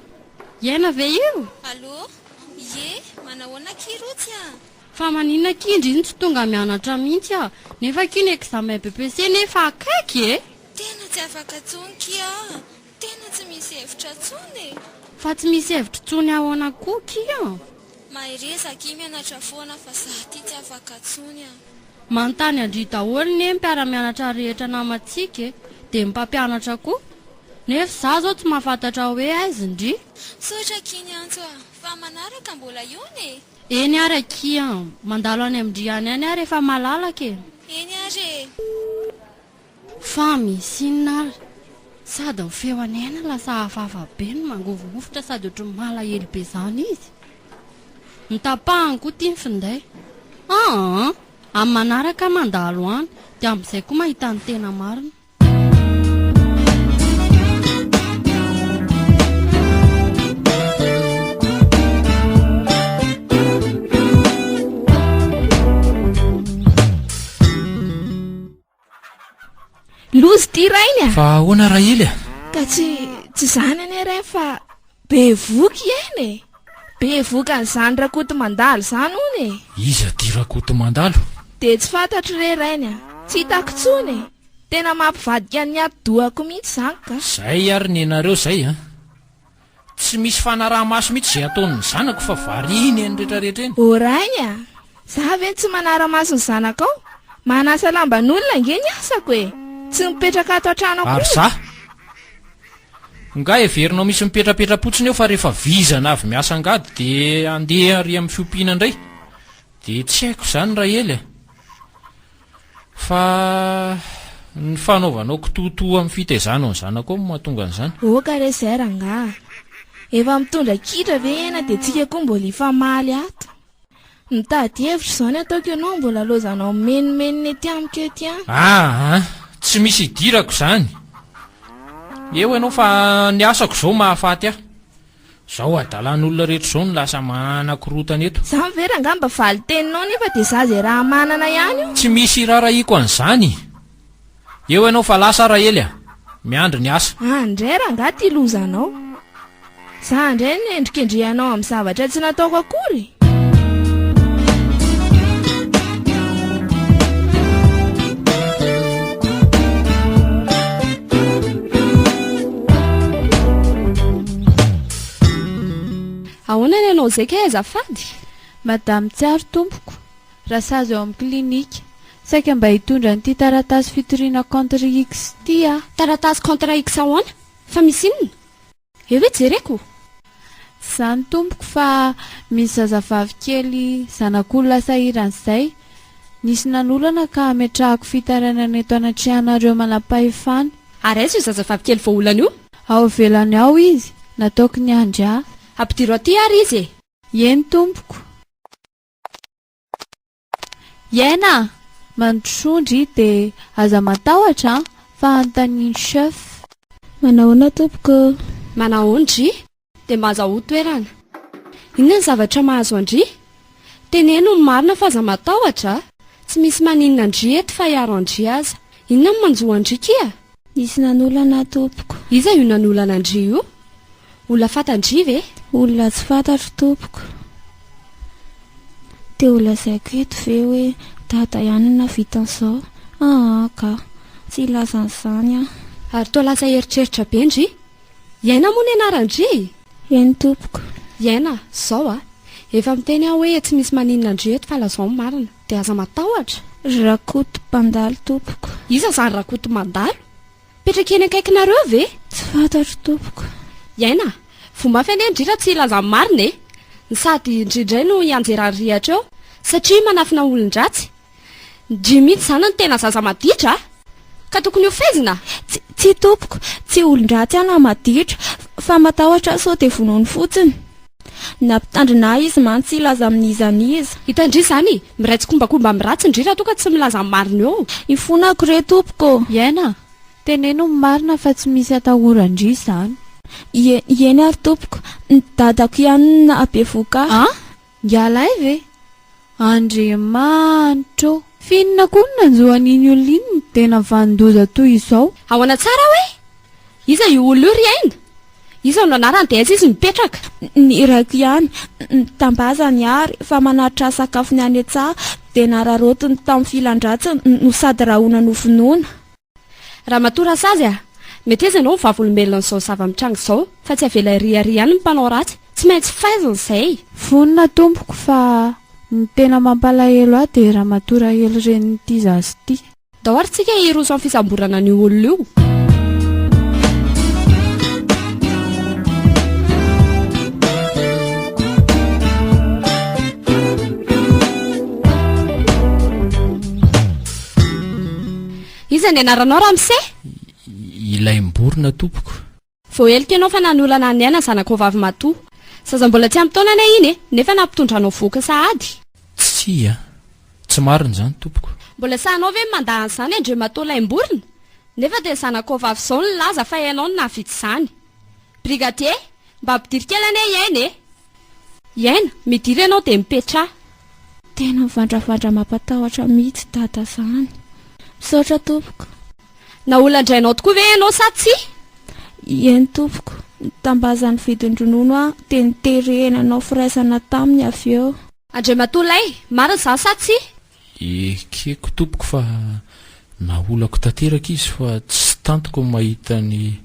Iaina ve io? Allô? Ie, manahoana akia Rotsy a? Fa maninona akia ndry no tsy tonga mianatra mihitsy aho? Nefa akia ny examen BEPC nefa akaiky e! Tena tsy afaka tsony kia a! Tena tsy misy hevitra tsony e! Fa tsy misy hevitro tsony aona koa kioo? Mahereza akia mianatra foana fa za ty tsy afaka tsony a! Manontany an-dry daholo ne mpiara-mianatra rehetra namantsika e! Dia ny mpampianatra koa! Nefa za zao tsy mahafantatra hoe aiz ndry? Misaotra akia niantso a! Fa manaraka mbola hiona e! Eny ary akia an! Mandalo any amin-dry any any ary efa malalaka e! Eny ary e! Fa misy inona ary? Sady ny feony aina lasa hafahafa be no mangovingovitra sady ohatry ny malahelo be izany izy. Ny tapahany koa tia ny finday. An! Amin'ny manaraka aho mandalo any dia amin'izay koa mahita ny tena marina. Lozy ity rainy a! Fa ahoana Raily a? Ka tsy tsy izany anie rainy fa bevoka i Aina e! Bevoka an'izany Rakotomandalo izany hono e! Iza ity Rakotomandalo? Dia tsy fantatro re rainy a! Tsy hitako intsony e! Tena mampivadika ny ati-dohako mihitsy izany ka! Izay ary ny anareo izay a! Tsy misy fanaraha-maso mihitsy izay ataon'ny zanako fa variany eny rehetra rehetra eny. Ô Ray a! Za ve no tsy manara-maso ny zanakao? Manasa lamban'olona ange ny asako e! Tsy mipetraka ato an-trano akory. Ary za? Nga heverinao misy mipetrapetra-potsiny eo fa rehefa vizana avy miasa angady dia andeha ary amin'ny fiompiana indray? Dia tsy haiko izany Rahely a! Fa ny fanaovanao kitoatoa amin'ny fitaizanao ny zanako ao no mahatonga an'izany. Oka re zay rangaha a! Efa mitondra kitra ve iana dia tsika koa mbola hifamaly ato? Mitady hevitra izao ny ataoko ianao mbola lozanao mimenomenona ety amiko ety an! Aa! Tsy misy hidirako izany! Eo ianao fa ny asako izao mahafaty ahy. Zao adalan olona rehetra zao no lasa mahana korotana eto. Za ve rangah mba valin-teninao nefa dia za zay raha manana ihany io. Tsy misy irarahiako an'izany. Eo ianao fa lasa ary Rahely a! Miandry ny asa. Any indray rangah ity lozanao. Za indray no endrikendrehanao amin'ny zavatra tsy nataoko akory. Ahoana ny anao izay kay azafady? Madame Tsiaro tompoko, rasazy ao amin'ny clinique. Saika mba hitondra an'ity taratasy fitoriana contre X ity aho. Taratasy contre X ahoana? Fa misy inona? Eo ve jereko? Zany tompoko fa misy zazavavy kely zanak'olona sahirana zay, nisy nanolana ka ametrahako fitarainana eto anatrehanareo manampahefana. Ary aiza io zazavavy kely voaolana io? Ao ivelany ao izy, nataoko niandry ahy. Ampidiro aty ary izy e! Eny tompoko. Hiaina a! Mandrosoa ndry de aza matahotra an! Fa anontanian'i chef. Manahoana tompoko ô? Manahoana ndry? Dia mba aza ho toerana. Inona ny zavatra mahazo an-dry? Teneno ny marina fa aza matahotra a! Tsy misy maninona an-dry eto fa hiaro an-dry aza. Inona no manjo an-dry kia? Nisy nanolana tompoko. Iza io nanolana an-dry io? Olona fatan-dry ve? Olona tsy fantatro tompoko. Dia ho lazaiko eto ve hoe dada ihany no nahavita an'izao? Aa ka! Tsy hilaza an'izany aho. Ary toa lasa eritreritra be ndry. Iaina moa ny anaran-dry e? Eny tompoko. Iaina, zao a! Efa miteny aho hoe tsy misy maninona an-dry eto fa lazao ny marina. Dia aza matahotra. Ry Rakoto mpandalo tompoko. Iza izany Rakoto mandalo? Mipetraka eny akaikinareo ve? Tsy fantatro tompoko. Iaina a! Voa mafy anie indrindra tsy hilaza ny marina e! Ny sady ndry indray no hianjera ny rihatra eo satria manafina olon-dratsy. Ndry mihitsy izany no tena zaza maditra a! Ka tokony hofehezina? Tsy, tsia tompoko, tsy olon-dratsy aho na maditra, fa matahotra aho sao dia vonoiny fotsiny. Nampitandrina ahy izy mantsy hilaza amin'iza n'iza. Hita ndry izany, miray tsikombakomba amin'ny ratsy ndry raha toa ka tsy milaza ny marina eo. Ifonako re tompoko ô! Iaina, teneno ny marina fa tsy misy atahora ndry izany. Ie, ieny ary tompoko, ny dadako ihany no nahabevohoka ahy. An! Ngialahy ve? Andriamanitra ô! F'inona koa no nanjo an'iny olona iny ny tena vanin-doza toy izao? Ahoana tsara hoe? Iza io olona io ry Aina? Iza no anarany dia aiza izy mipetraka? Ny irako ihany. Mitambazany ary fa manatitra sakafony any an-tsaha dia nararaotiny tamin'ny filan-dratsiny no sady rahona no vonoina. Ramatoa Rasazy a! Meteza ianao ny vavolombelon'izao zava-mitranga izao fa tsy avela iry ary ihany ny mpanao ratsy, tsy maintsy faizina izay! Vonona tompoko fa ny tena mampalahelo ahy dia ramatoa rahely renin'ity zaza ity. Ndao ary tsika hiroso amin'ny fisamborana an'io olona io. Iza ny anaranao ramose? Ilay miborina tompoko. Voaheloka ianao fa nanolana an'i Aina zanakao vavy matoa. Zaza mbola tsy ampy taona anie iny e, nefa nampitondra anao vohoka sahady. Tsia, tsy marina izany tompoko. Mbola sahinao ve ny mandà an'izany Andriamatoa Laimborina? Nefa dia ny zanakao vavy izao no nilaza fa ianao no nahavidy izany. Brigadier, mba ampidiry kely anie i Aina e! I Aina, midiry ianao dia mipetraha. Tena mivandravandra mampatahotra mihitsy dada zany. Misaotra tompoko. Naolan-drainao tokoa ve ianao sa tsia? I Aina, tompoko, nitambaza ny vidin-dronono aho dia niterena nanao firaisana taminy avy eo. Andriamatoa Lay, marina izany sa tsia? Ekeko tompoko fa naolako tanteraka izy fa tsy tantiko ny mahita ny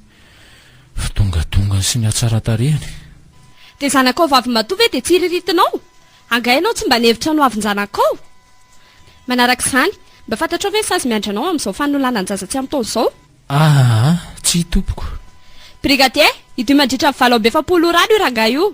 fidongadongany sy ny hatsaratarehany. Dia zanakao vavimatoa ve dia tsiriritinao? Angaha ianao tsy mba nihevitra ny ho avin-janakao? Manaraka izany, mba fantatrao ve ny sazy miandry anao amin'izao fanolanan-jaza tsy amin-taona izao? Ahaa tsia tompoko. Brigadier, idio mandritra ny valo amby efapolo ora any io rangahy io.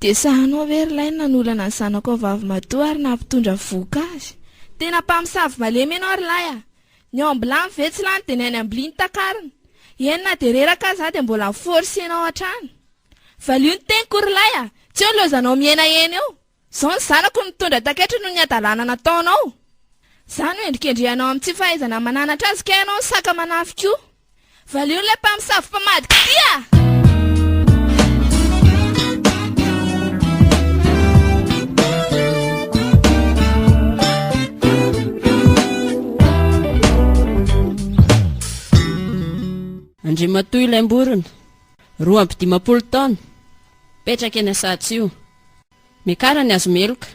Dia sahanao ve ry lahy ny nanolana ny zanakao vavimatoa ary nampitondra vohoka azy? Tena mpamosavy malemy ianao ry lahy a! Ny ao ambilany ve tsy lany de ny any amblia no takarina? Eny na de reraka aza de mbola mi force enao hatrany. Valio ny teniko ry lay a! Tsy eo ny loazanao miaina eny eo. Zao ny zanako no mitondra takaiky noho ny hadalana nataonao. Za no hendrikendrehanao amin'ny tsy fahaizana mananatra azy kay ianao no saka manafy koa. Valio ilay mpamosavy mpamadika tia! Andriamatoa ilay mborona, roa amby dimampolo taona, mipetraka eny Asahatsio. Mekara ny hazo meloka.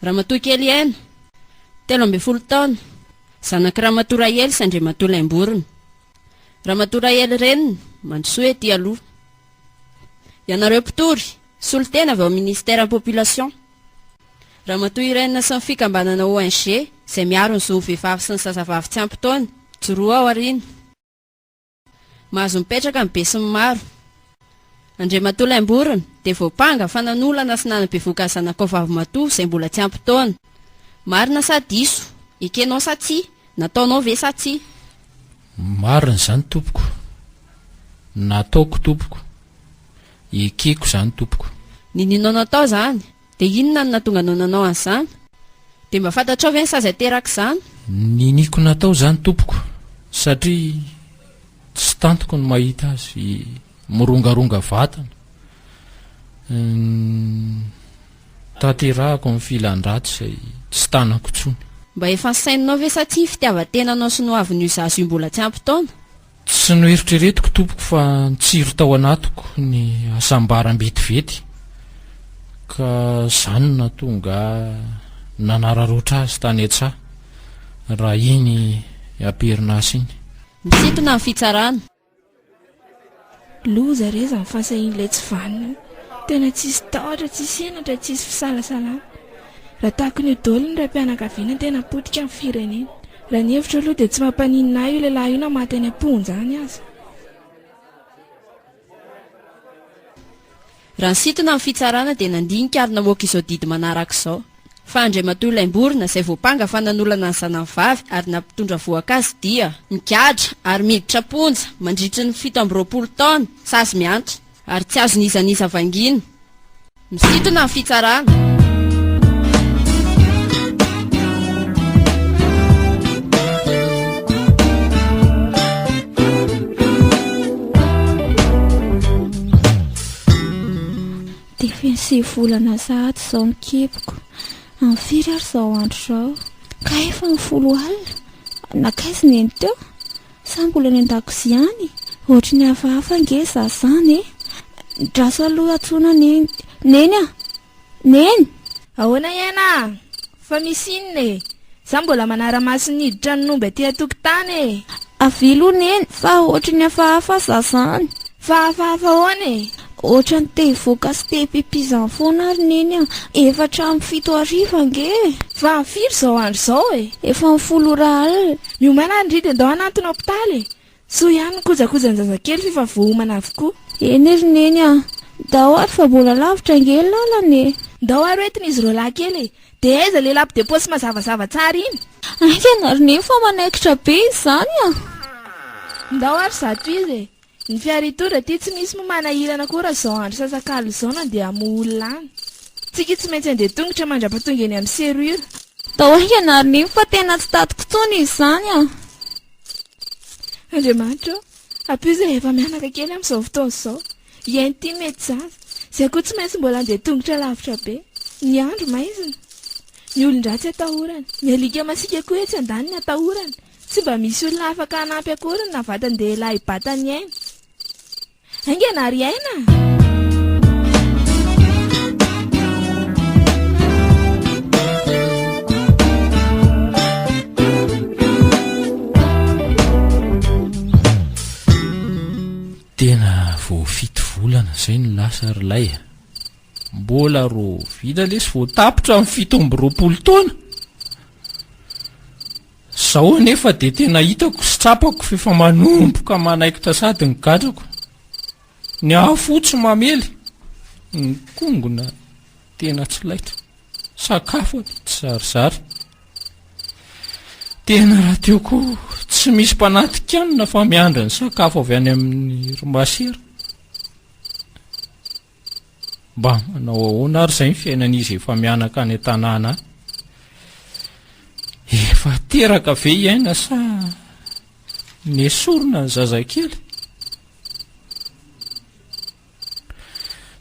Ramatoa kely Heno, telo ambin'ny folo taona, zanak'i Ramatoa Rahely sy Andriamatoa Laimborona. Ramatoa Rahely reniny, mandrosoa ety aloha. Ianareo mpitory, solontena avy ao amin'ny Ministère Population. Ramatoa Irène sy ny fikambanana ONG izay miaro ny zon'ny vehivavy sy ny zazavavy tsy ampy taona, mijoroa ao aoriana. Mahazo mipetraka ny besinimaro. Andriamatoa Laimborona dia voampanga fa nanolana sy nanabevoka ny zanakao vavimatoa izay mbola tsy ampy taona. Marina sa diso? Ekenao sa tsia? Nataonao ve sa tsia? Marina izany tompoko. Nataoko tompoko. Ekeko izany tompoko. Ninianao natao izany? Dia inona no nahatonga anao nanao an'izany? Dia mba fantatrao ve ny sazy aterak'izany? Niniako natao izany tompoko, satria tsy tantiko ny mahita azy mirongaronga vatana. Tanterahako ny filan-dratsy izay tsy tanako intsony. Mba efa nisaininao ve sa tsia ny fitiavan-tenanao sy ny hoavin'io zaza io mbola tsy ampy taona? Tsy noeritreretiko tompoko fa nitsiry tao anatiko ny hasambaram betivety ka zany natonga ahy nanararotra azy tany an-tsaha raha iny aperinasa iny. Misintona ny fitsarana. Loza re zany fahasahian'ilay tsy vanona io. Tena tsisy tahotra, tsisy henatra, tsisy fisalasalana. Raha tahaka an'io daholo ny raim-pianakaviana ny tena potika amin'ny firenena. Raha ny hevitro aloha dia tsy mampaninona ahy io lehilahy io na maty any am-ponja any aza. Raha nisintona ny fitsarana dia nandinika ary namoaka izao didy manaraka izao, fa Andriamatoa Laimborona izay voampanga fa nanolana ny zanany vavy ary nampitondra vohoka azy dia, migadra ary miditra am-ponja mandritry ny fito amby roapolo taona sazy mihantona ary tsy azon'iza n'iza vangiana. Misintona ny fitsarana. Sivy volana sahady izao ny kiboko. Amin'ny firy ary izao andro izao? Kay efa ny folo alina. Nankaiza ny eny teo? Sa mbola any an-dakozia any? Ohatry ny hafahafa ange za zany e! Draso aloha antsoina ny Neny a! Neny! Ahoana iaina a! Fa misy inona e! Za mbola manara-maso ny hiditra ny omby aty an-tokotany e! Avia aloha Neny fa ohatry ny hafahafa za zany! Fa hafahafa ahoana e! Otrany te hivoaka sy te hipipizany foana ary neny a! Efa hatramin'ny fito hariva ange e! Fa firy izao andro izao e? Efa ny folo ora alina. Miomay lahy ndry dia ndao hanantona hopitaly e! Soa ihany ny kojakojan-jazakely f'efa voaomana avokoa. Eny ry neny a! Ndao ary fa mbola lavitra ange ny lalana e! Ndao ary hoentina izy roa lahy kely e! Dia aiza ilay lampe de poche mazavazava tsara iny? Haingana ry neny fa manaikitra be izy izany a! Ndao ary zato izy e! Ny fiara hitondra aty tsy misy moa manahirana koa raha zao andro sasak'alina zao nandeha hamoha olona any. Tsika tsy maintsy handeha tongotra mandrapatonga eny amin'ny serure. Tao Hianarinivo fa tena tsy tatiko tsony izy zany a. Andriamanitra ô! Ampio izay efa mianaka kely amin'izao fotoana izao. Hiaino ity mety zaza. Izay koa tsy maintsy mbola handeha tongotra lavitra be. Ny andro maizina. Ny olon-dratsy atahorana. Ny alika masiaka koa etsy andaniny atahorana. Tsy mba misy olona afaka hanampy akory ny navatin-dehilahy i Bataniaina. Haingana ry aina! volana zay no lasa ary lay a mbola ro vina lesy voatapitra amin'ny fito amby roapolo taona Izao anefa dia tena hitako sy tsapako fa efa manomboka manaikitra sady ny gadrako. Ny afo tsy mamely, ny kongona tena tsy laitra, sakafo ato tsy zarizary. Tena raha teo koa tsy misy mpanantikanina fa miandry ny sakafo avy any amin'ny ry masera. Mba manao ahoana ary izay ny fiainan'izy efa mianaka any an-tanàna any? Efa teraka ve hiaina sa nesorina ny zazakely?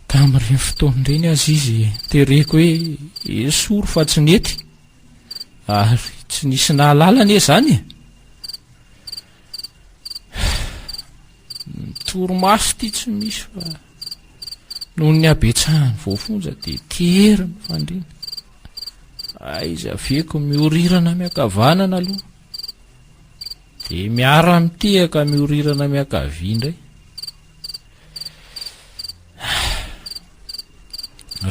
Tamin'ireny fotoana ireny aza izy tereko hoe esory fa tsy nety ary tsy nisy nahalala anie izany e. Toromaso ity tsy misy fa Noho ny habetsahan'ny voafonja dia tery ny fandriana. Aiza avieko miorirana miankavanana aloha. Dia miara-mitehaka miorirana miankavia indray.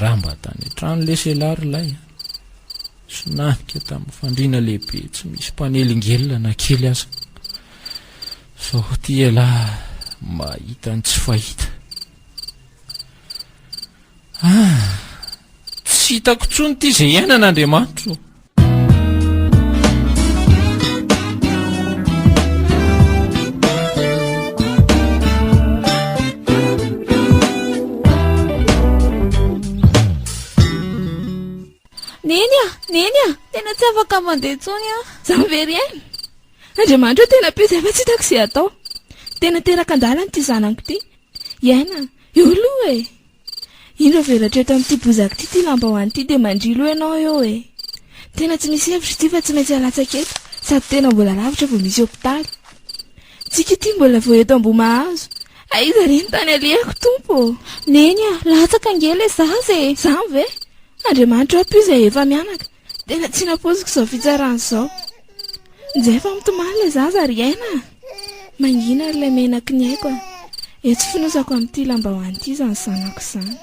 Raha mba tany an-trano lesy ialahy ry lahy. Sinanika tamin'ny fandriana lehibe tsy misy mpanelingelina na kely aza. Sao ty ialahy mahita ny tsy fahita. Ah, tsy hitako tsony ty izay iainana Andriamanitro. Neny a, neny a, tena tsy afaka mandeha tsony a, Xaveriel. Andriamanitra tena be izay fa tsy hitako izay atao. Tena teraka an-dalana ity zanako ity. Hiaina, eo aloha e! Indro avelatra eto amin'ity bozaka ity ity lambahoany ity dia mandrilo ianao eo e! Tena tsy misy hevitra ity fa tsy maintsy halatsaka eto sady tena mbola lavitra vao misy hopitaly. Tsiky ity mbola vao eto Ambohimahazo. Aiza re ny tany alehako Tompo ô! Neny a! Latsaka ange ilay zaza e! Izany ve? Andriamanitra ampio izay efa mianaka. Tena tsy nampoiziko izao fitsarana izao. Nje efa mitomany ilay zaza ry aina a! Mangina ary ilay menaky ny aiko a! Etsy fonosako amin'ity lambahoany ity izany zanako izany.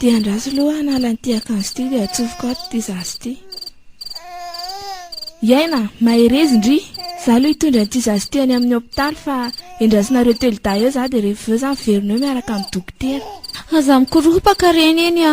Dia andraso aloha hanala an'ity akanjo ity dia atsofoko ato ity zaza ity. I aina, mahereza indry! Za aloha hitondra an'ity zaza ity any amin'ny hopitaly fa endrasinareo telodahy eo za dia rehefa avy eo za miverina eo miaraka amin'ny dokotera. Aza mikoropaka reny eny a!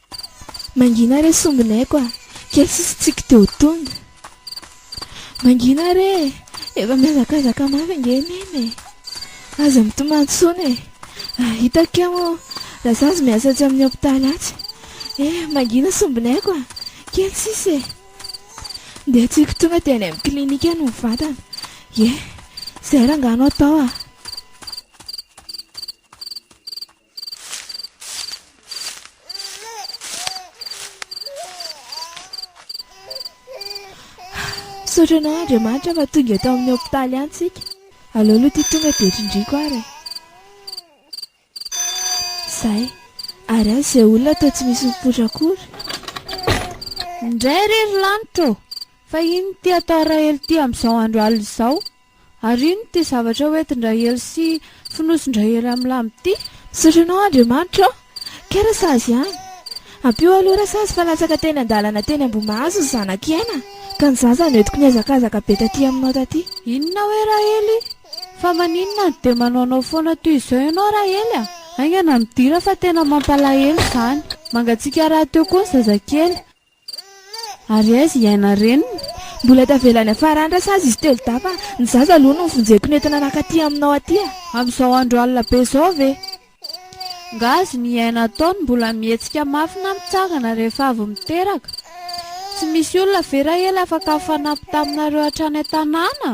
Mangina re sombinaiko a! Kely sisa tsiky dia ho tonga. Mangina re e! Efa mihazakazaka mafy ange Neny e! Aza mitomany intsony e! Raha hitako kay moa Razazy miasa atsy amin'ny hopitaly atsy. Eh! Mangina sombinaiko a! Kely sisa e! Ndeha tsiky tonga dia any amin'ny clinique no mivantana. Ye! Izay rangano atao a! Misaotra anao Andriamanitra fa tonga eto amin'ny hopitaly any tsika. Aleo aloha ity tonga dia trindriako ary e. Zay. Ary aza izay olona toa tsy misy mipoitra akory. Indray re ry lanitra ô! Fa inona ity atao Rahelo ity amin'izao andro alina izao? Ary ino ity zavatra hoentin-dRaely sy fonosin-dRaely amin'ny lamba ity? Misaotra anao Andriamanitra ô! Kay Rasazy ihany! Ampio aloha Rasazy fa latsaka teny an-dalana teny Ambohimahazo ny zanak'i Aina ka ny zaza no entiko nihazakazaka be taty aminao taty. Inona hoe Raely? Fa maninona no dia manaonao foana toy izao ianao Raely a! Haingana midira fa tena mampalahelo izany! Mangatsiaka rahateo koa ny zazakely! Ary aiza i Aina reniny? Mbola tavela any Farandra sazy izy telo dahy fa ny zaza aloha no vonjeko nentina naka aty aminao aty a! Amin'izao andro alina be izao ve? Nga azony i Aina atao ny mbola mihetsika mafy na mitsangana rehefa avy miteraka? Tsy misy olona ve Rahely afaka mifanampy taminareo hatrany an-tanàna?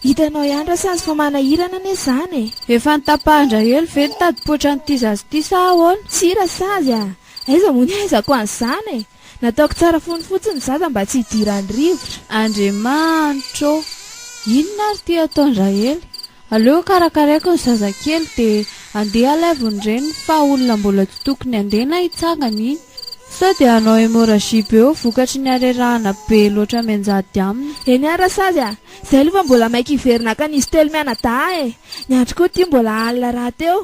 Hitanao ihany Rasazy fa manahirana anie izany e! Efa notapahan-dRahely ve ny tadipoatra an'ity zaza ity sa ahoana? Tsia Rasazy a! Aiza moa ny haizako an'izany e! Nataoko tsara fony fotsiny ny zaza mba tsy hidiran'ny rivotra. Andriamanitra ô! Inona ary ity ataon-dRahely? Aleo karakaraiko ny zazakely dia andeha alaivo ny reniny fa olona mbola tsy tokony andeha na hitsangana iny. Sao dia hanao hémorragie be eo vokatry ny harerahana be loatra mianjady aminy. Eny ary rasazy a! Izay aloha fa mbola maika hiverina hankany izy telo mianadahy e! Ny andro koa ity mbola alina rahateo.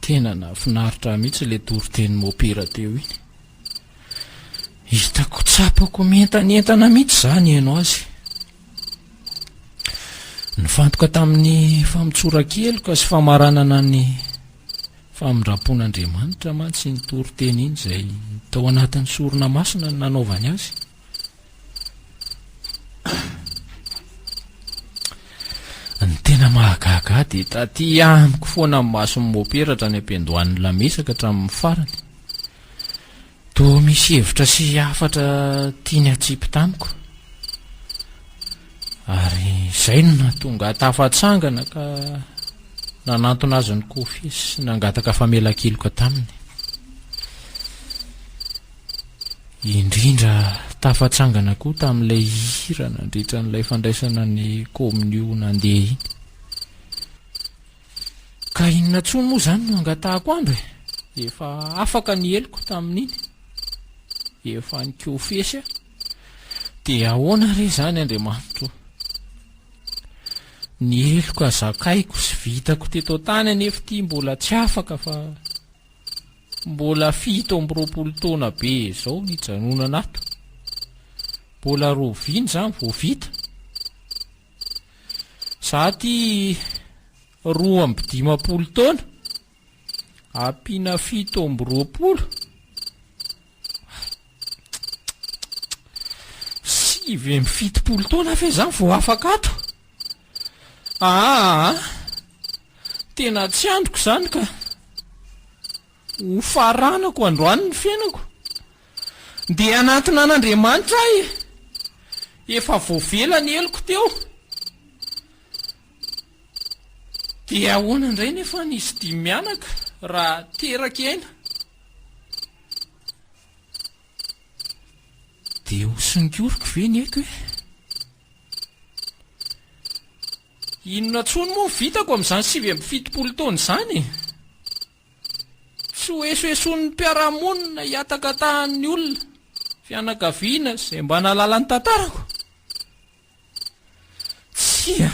tena nafinaritra mihitsy le toriteny mopera teo iny hitako tsapako mientanentana mihitsy zany ianao azy Nifantoka tamin'ny famotsoran-keloka sy famaranana ny famindram-pon'Andriamanitra mantsy iny toriteny iny izay tao anatin'ny sorona masina ny nanaovany azy. Ny tena mahagaga dia taty amiko foana amin'ny mason'ny moperatra ny ampiandohan'ny lamesaka hatramin'ny farany. Toa misy hevitra sy hafatra tiany hatsipy tamiko, ary izay no nahatonga ahy tafatsangana ka nanantona azy ny kofy sy nangataka famelan-keloka taminy. Indrindra tafatsangana koa tamin'ilay hira nandritra an'ilay fandraisana ny kaominio nandeha iny. Ka inona tsoa moa izany no angatahako andro e! Efa afaka ny heloko tamin'iny. Efa nikofesy aho. Dia ahoana re izany Andriamanitro o! Ny heloka zakaiko sy vitako teto an-tany anefa ity mbola tsy afaka fa mbola fito amby roapolo taona be izao nijanonana ato. Mbola roviana izany vao vita? Izaho ity roa amby dimampolo taona, ampiana fito amby roapolo, sivy amby fitopolo taona ve izany vao afaka ato? Aa! Tena tsy andriko izany ka! Hofaranako androany ny fiainako Ndeha hanantona an'Andriamanitra aho e! Efa voavela ny heloko teo. Dia ahoana indray nefa ny izy dimy mianaka raha teraky aina? Dia ho songoriko ve ny aiko e? Inona intsony moa no vitako amin'izany sivy amby fitopolo taona izany e? Tsy hoesoeson'ny mpiara-monina hihatakatahan'ny olona, fianakaviana izay mba nahalala ny tantarako? Tsia,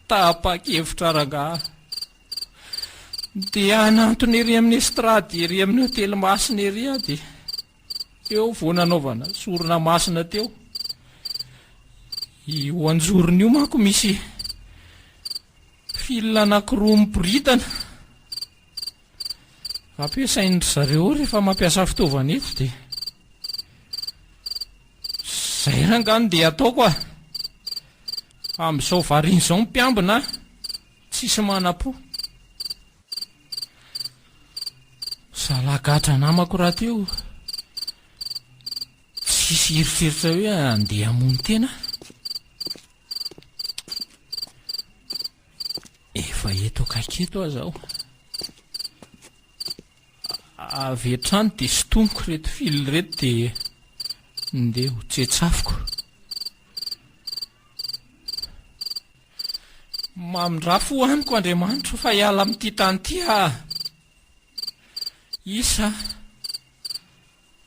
tapa-kevitra rangaha dia hanantona ery amin'ny estrady ery amin'ny hotely masina ery aho dia eo vao nanaovana sorona masina teo. Io anjorony io manko misy Fil anankiroa miboridana ampiasain-dry zareo rehefa mampiasa fitaovana eto dia izay ranga no dia ataoko ah amin'izao varina izao mpiambina ah tsisy manapo zalagadra namako raha teo tsisy eritreritra hoe andeha hamono tena Efa eto akaiky eto aza aho. Avy hatrany dia sintoniko ireto fil ireto dia ndeha ho tsetsafiko. Mamindrà fo amiko Andriamanitro fa hiala amin'ity tany ity aho. Isa,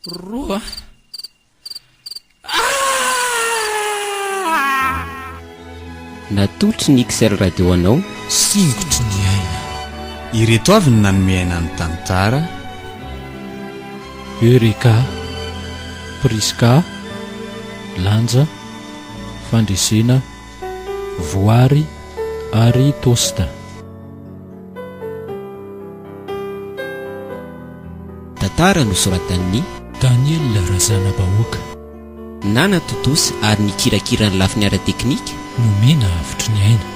roa, Natolotry ny XL Radio anao, Singotry ny aina. Ireto avy ny nanome aina ny tantara. Eureka, Prisca, Lanja, Fandresena, Voary ary Tosta. Tantara nosoratan'i. Daniela Razanabahoaka. Nana Totos ary nikirakira ny lafiny ara-teknika. Nomena havotry ny aina.